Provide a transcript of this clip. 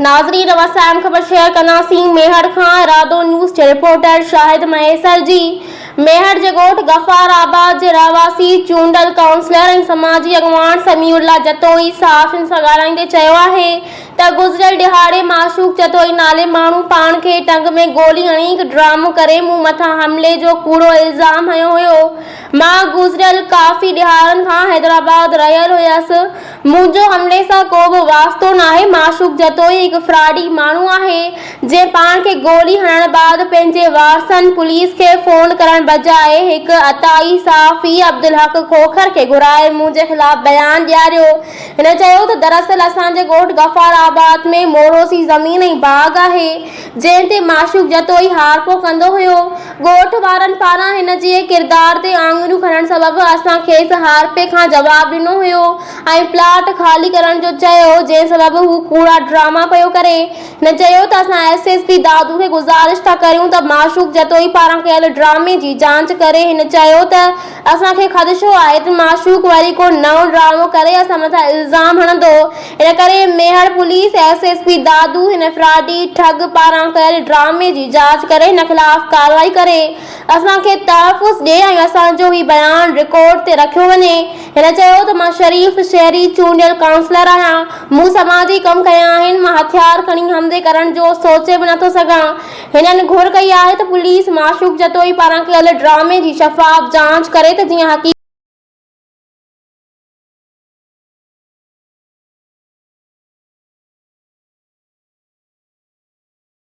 ناظرين رون سان اهم خبر شيئر ڪنداسين ميهڙ کان ارادو نيوز جي رپورٽر شاهد مهيسر جي ميهڙ جي ڳوٺ غفار آباد جي رهواسي چونڊل ڪائونسلر ۽ سماجي اڳواڻ سميع الله جتوئي صحافين سان ڳالهائيندي چيو آهي ته گذريل ڏهاڙي معشوق جتوئي نالي ماڻهو پاڻ کي ٽنگ ۾ گولي هڻي هڪ ڊرامو ڪري مون مٿان حملي جو ڪوڙو الزام هنيو هيو مان گذريل ڪافي ڏهاڙن کان حيدرآباد رهيل هيس منهنجو حملي سان ڪو به واسطو ناهي. معشوق جتوئي هڪ فراڊي ماڻهو آهي، جنهن پاڻ کي گولي هڻڻ بعد پنهنجي وارثن پوليس کي فون ڪرڻ بجاء هڪ عطائي صحافي عبدالحق کوکر کي گهرائي منهنجي خلاف بيان ڏياريو. هن چيو ته دراصل اسان جي ڳوٺ غفار آباد ۾ موروثي زمين ۽ باغ آهي، جنهن تي معشوق جتوئي هار پو ڪندو هيو. ڳوٺ وارن پاران هن جي ڪردار تي آڱريون کڻڻ سبب اسان کيس هار پي کان جواب ڏنو هيو ۽ پلاٽ خالي ڪرڻ جو چيو جنهن سبب هو ڪوڙا ڊراما پيو ڪري. هن چيو ته اسان ايس ايس پي دادو کي گذارش ٿا ڪريون ته معشوق جتوئي پاران ڪيل ڊرامي جي جانچ ڪري هن چيو ته اسان کي خدشو آهي ته معشوق وري ڪو نئون ڊرامو ڪري اسان مٿان الزام هڻندو، ان ڪري Mehar police S S P Dadu هن فراڊي ٺڳ پاران ڪيل ڊرامي جي جاچ ڪري هن خلاف ڪارروائي ڪري اسان کي تحفظ ڏي ۽ اسان جو هي بيان رڪارڊ تي رکيو وڃي. هن چيو ته مان شريف شهري چونڊيل ڪائونسلر آهيان، مون سماجي ڪم ڪيا آهن، مان هٿيار کڻي حملي ڪرڻ جو سوچي به نٿو سگهان، هنن گهر ڪئي آهي ته پوليس معشوق جتوئي پاران ڪيل ڊرامي جي شفاف جاچ ڪري ته جيئن حقيقت.